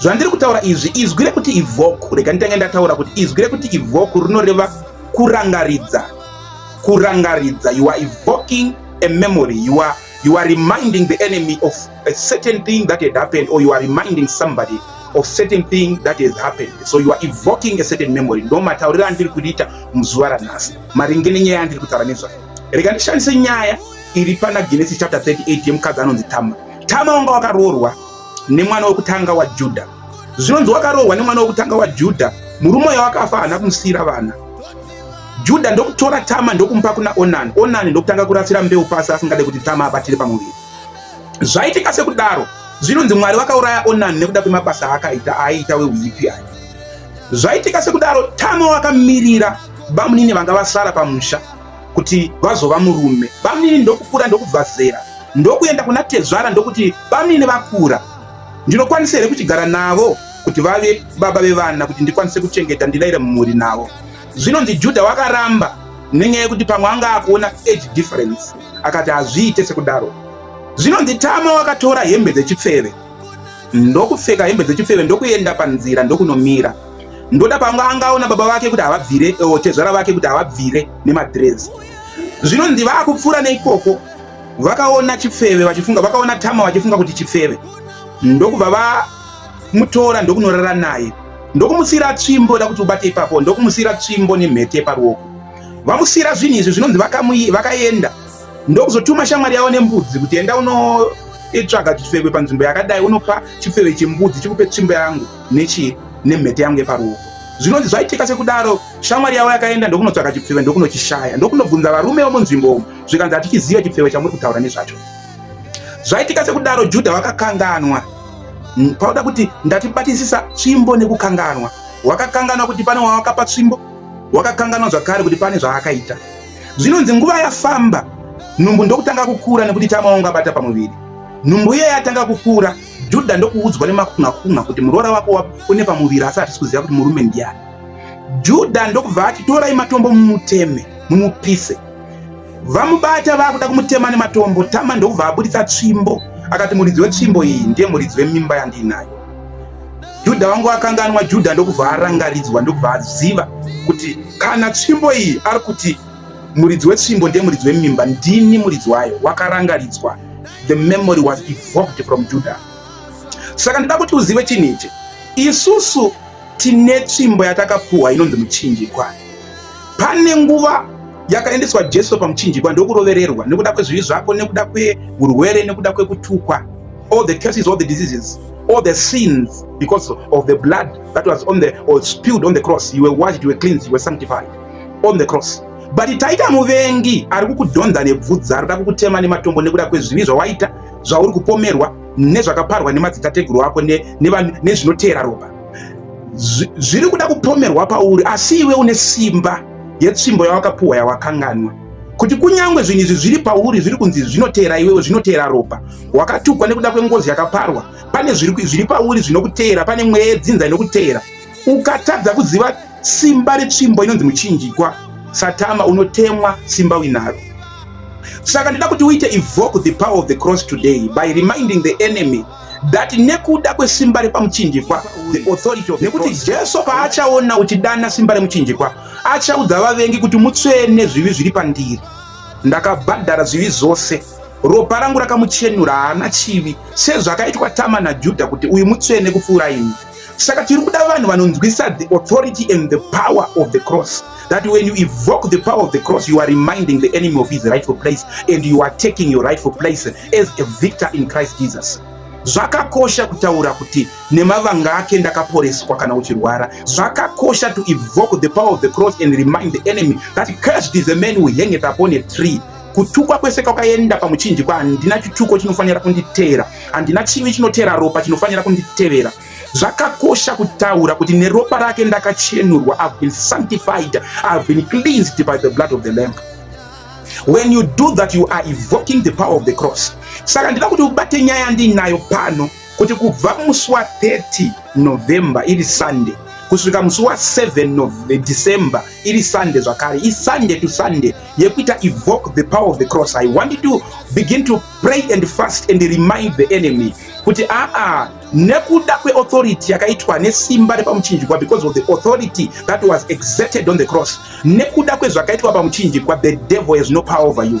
Zvandiri kutaura izvi, izwi rekuti ivoku, rega nditange ndataura kuti izwi rekuti ivoku rinoreva kurangaridza. Kurangaridza, you are evoking a memory, you are, you are reminding the enemy of a certain thing that had happened or you are reminding somebody of certain thing that has happened so you are evoking a certain memory ndo matauriro andiri kuriita muzuva ranhasi maringe nenyaya yandiri kutaura nezvayo rega ndishandise nyaya iri pana genesi chapter 38 yemukadzi anonzi tama tama wanga wakaroorwa nemwana wekutanga waJudha. Zvinonzi wakarohwa nemwana wekutanga waJudha, murume uyo akafa haana kumusiyira vana. Judha ndokutora Tama ndokumupa kuna Onani. Onani ndokutanga kurasira mbeu pasi asingade kuti Tama abatire pamuviri. Zvaitika sekudaro, zvinonzi Mwari vakauraya Onani nekuda kwemabasa aakaita aaiita weuipi aya. Zvaitika sekudaro, Tama wakamirira bamunini vanga vasara pamusha kuti vazova murume bamnini ndokukura ndokubva zera ndokuenda kuna tezvara ndokuti bamnini vakura ndinokwanisa here kuchigara navo kuti vave baba vevana kuti ndikwanise kuchengeta ndilaire mumhuri navo zvinonzi judha wakaramba nenyaya yekuti pamwe anga akuona age difference akati hazviite sekudaro zvinonzi tama wakatora hembe dzechipfeve ndokupfeka hembe dzechifeve ndokuenda panzira ndokunomira ndoda panga angaona baba vake kuti havabvire eh, tezvara vake kuti havabvire nemadress zvinonzi vaakupfuura neikoko vakaona chipfeve vachifunga vakaona tama vachifunga kuti chipfeve ndokubva vamutora ndokunorara naye ndokumusiira tsvimbo da kuti ubate ipapo ndokumusiira tsvimbo nemhete paruoko vamusiira zvinhu izvi zvinonzi vakaenda vaka ndokuzotuma shamwari yavo nembudzi kuti enda unoitsvaga chifeve panzvimbo yakadai unopa chifeve chembudzi chikupe tsvimbo yangu nechii nemhete yangu yeparuoko zvinonzi zvaitika sekudaro shamwari yavo yakaenda ndokunotsvaga chipfeve ndokunochishaya ndokunobvunza varume vomunzvimbo umu zvikanzi hatichiziva chipfeve chamuri kutaura nezvacho zvaitika sekudaro judha vakakanganwa pauda kuti ndatibatisisa tsvimbo nekukanganwa wakakanganwa kuti pane wawakapa tsvimbo wakakanganwa zvakare kuti pane zvaakaita Zvinonzi nguva yafamba, nhumbu ndokutanga kukura nekuti tama wangu abata pamuviri. Nhumbu iye yatanga kukura, Judha ndokuudzwa nemakunhakunha kuti muroora wako une pamuviri asi hatisi kuziva kuti murume ndiyani. Judha ndokubva ati torai matombo mumuteme, mumupise. Vamubata vakuda kumutema nematombo, Tama ndokubva abuditsa tsvimbo akati muridzi wetsvimbo iyi ndiye muridzi wemimba yandiinayo. Judha wangu akanganwa Judha ndokubva arangaridzwa ndokubva aziva kuti kana tsvimbo iyi ari kuti muridzi wetsvimbo ndiye muridzi wemimba ndini muridzi wayo wakarangaridzwa the memory was evoked from Judha saka ndida kuti uzive chinhu ichi isusu tine tsvimbo yatakapuhwa inonzi muchinjikwa Pane nguva yakaendeswa Jesu pamuchinjikwa ndokurovererwa nekuda kwezvivi zvako, nekuda kweurwere, nekuda kwekutukwa, all the curses, all the diseases, all the sins because of the blood that was on the or spilled on the cross. You were washed, you were cleansed, you were sanctified on the cross. But taita muvengi ari kukudhonza nebvudza, ari kuda kukutema nematombo nekuda kwezvivi zvawaita, zvauri kupomerwa nezvakaparwa nemadzitateguru ako nezvinoteera ropa. zviri kuda kupomerwa pauri asi iwe une simba yetsvimbo yawakapuhwa yawakanganwa kuti kunyange zvinhu izvi zviri pauri zviri kunzi zvinoteera iwewe zvinoteera ropa wakatukwa nekuda kwengozi yakaparwa pane zviri pauri zvinokuteera pane mweya yedzinza inokuteera ukatadza kuziva simba retsvimbo inonzi muchinjikwa satama unotemwa simba uinaro saka ndida kuti uite evoke the power of the cross today by reminding the enemy that nekuda kwesimba repamuchinjikwa the authority of nekuti jesu paachaona uchidana simba remuchinjikwa achaudza vavengi kuti mutsvene zvivi zviri pandiri ndakabhadhara zvivi zvose ropa rangu rakamuchenura haana chivi sezvakaitwa tama najudha kuti uyu mutsvene kupfuura ini saka tiri kuda vanhu vanonzwisa the authority and the power of the cross that when you evoke the power of the cross you are reminding the enemy of his rightful place and you are taking your rightful place as a victor in christ jesus zvakakosha kutaura kuti nemavanga ake ndakaporeswa kana uchirwara zvakakosha to evoke the power of the cross and remind the enemy that cursed is a man who hangeth upon a tree kutukwa kwese kwakaenda pamuchinjikwa handina chituko chinofanira kunditeera handina chivi chinoteera ropa chinofanira kunditevera zvakakosha kutaura kuti neropa rake ndakachenurwa ihave been sanctified ihave been cleansed by the blood of the lamp when you do that you are evoking the power of the cross saka ndida kuti ubate nyaya ndiinayo pano kuti kubva musi wa 30 November iri Sunday kusvika musi wa 7 of the December iri Sunday zvakare i Sunday to Sunday yekuita evoke the power of the cross I want to begin to pray and fast and remind the enemy kuti aa ah, ah, nekuda kweauthority yakaitwa nesimba repamuchinjikwa because of the authority that was exerted on the cross nekuda kwezvakaitwa pamuchinjikwa the devil has no power over you